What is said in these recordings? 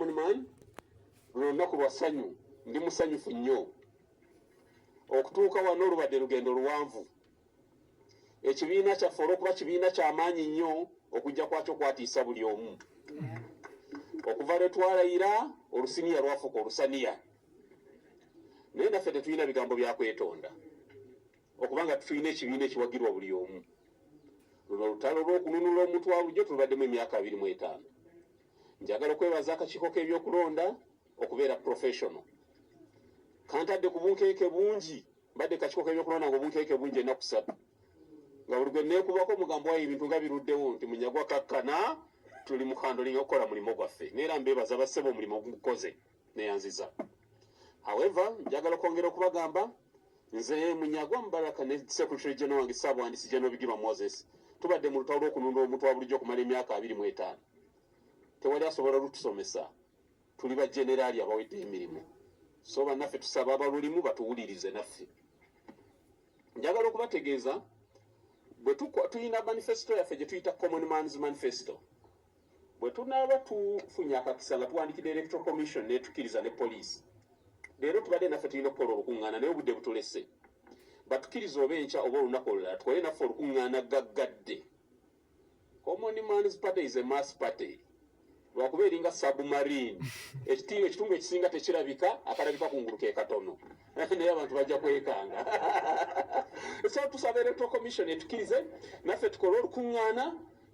luno lunaku lwa ssanyu ndi musanyufu nnyo okutuuka wano olubadde lugendo luwanvu ekibiina kyaffe olwokuba kibiina kyamaanyi nnyo okujja kwakyo kwatiisa buli omu okuva lwe twalayira olusiniya lwafuuka olusaniya naye naffe tetulina bigambo bya kwetonda okubanga tulina ekibiina ekiwagirwa buli omu luno olutalo lw'okununula omuntu wa bulijjo tulubaddemu emyaka abiri mu etaano Njagala okwebaza akakiiko k'ebyokulonda okubeera professional. Kantadde ku bunkeeke bungi, mbadde kakiiko k'ebyokulonda nga obunkeeke bungi ennaku ssatu nga buli gwe neekubako omugambo wayo ebintu nga biruddewo nti Munyagwa kakkana tuli mu handling okukola mulimu gwaffe. Neera mbeebaza bassebo omulimu ogukoze. neyanziza however njagala okwongera okubagamba nze munyagwa mubaraka ne secretary general wange sabwandisi general bigirwa moses tubadde mu lutalo lwokununda omuntu wa bulijjo okumala emyaka abiri mu etaano tewali asobola lutusomesa tuli ba generali abawedde emirimu so bannaffe tusaba abalulimu batuwulirize naffe njagala okubategeeza bwe tulina manifesito yaffe gye tuyita common mans manifesito bwe tunaaba tufunye akakisa nga tuwandikidde electoral commission netukiriza ne poliisi leero tubadde naffe tulina okukola olukuŋŋaana naye obudde butulese batukiriza oba enkya oba olunaku olulala tukole naffe olukuŋŋaana gaggadde common mans party is a mass party lwakuba eringa submarine ekitinga ekitundu ekisinga tekirabika akalabika ku ngulu ke katono naye abantu bajja kwekanga so tusaba electoral commission etukirize naffe tukole olukuŋŋaana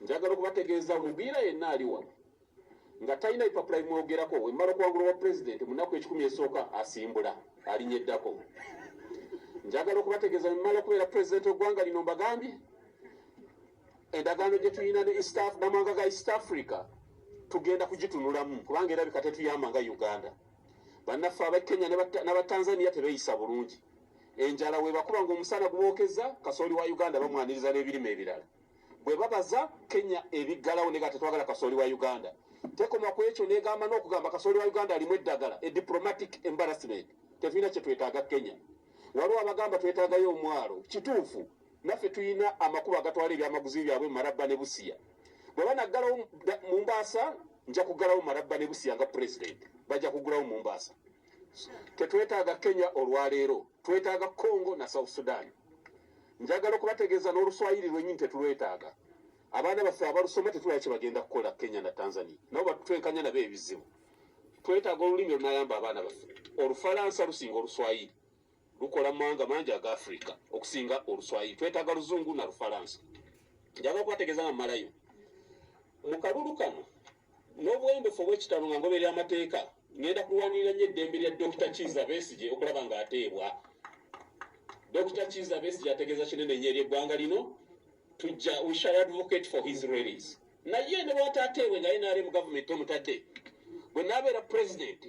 njagala okubategeeza omugwira yenna ali wano nga talina bipapula bimwogerako wemala okuwangula wa pulezidenti munaku ekikumi esooka asimbula alinyeddako njagala okubategeeza wemala okubeera pulezidenti ogwanga lino mbagambye endagaano gye tulina ne eastaf namawanga ga east africa tugenda kugitunulamu kubanga erabika tetuyamba nga uganda bannaffe aba kenya nabatanzania tebeyisa bulungi enjala webakuba nga omusana gubokeza kasooli wa uganda bamwaniriza n'ebirime ebirala bwebabaza kenya ebiggalawo nega tetwagala kasooli wa uganda tekoma ku ekyo negamba n'okugamba kasooli wa uganda alimu eddagala e diplomatic embarrassment tetulina kyetwetaaga kenya waliwo abagamba twetaagayo omwalo kituufu naffe tulina amakubo agatwala ebyamaguzi byabwe mumarabba ne busiya bwe banaggalawo mu mbaasa nja kuggalawo mumarabba ne busiya nga president bajja kuggulawo mu mbaasa tetwetaaga kenya olwaleero twetaaga congo na south sudan Njagala okubategeeza n'oluswayiri lwennyini tetulwetaaga. Abaana baffe abalusoma tetulaba kye bagenda kukola Kenya na Tanzania. Nabo batutwenkanya nabo ebizibu. Twetaaga olulimi olunayamba abaana baffe. Olufalansa lusinga oluswayiri. Lukola mu mawanga mangi aga Afirika okusinga oluswayiri. Twetaaga luzungu na lufalansa. Njagala okubategeeza nga mmalayo. Mu kalulu kano n'obuwembefu obw'ekitalo nga ngoberera amateeka ngenda kulwanirira nnyo eddembe lya dokita kiiza besigye okulaba ng'ateebwa dokita kiiza besigye ategeeza kinene nnyo ery'eggwanga lino tujja we shall advocate for his release naye ne bwataateebwe nga nrm gavumenti omutadde bwe naabeera pulezidenti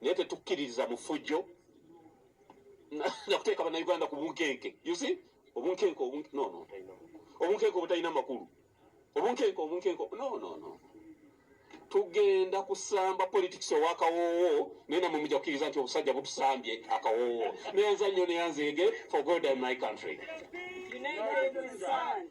naye tetukkiririza mu ffujjo nakuteeka bannayuganda ku bunkenke usi obunkenke obunkenke obutalina makulu obunkenke obunkenke nonono tugenda kusamba politics owakawoowo naye namwe muja kukkiriza nti obusajja butusambye akawoowo neyanza nnyo neyanzeege for god and my country United we stand.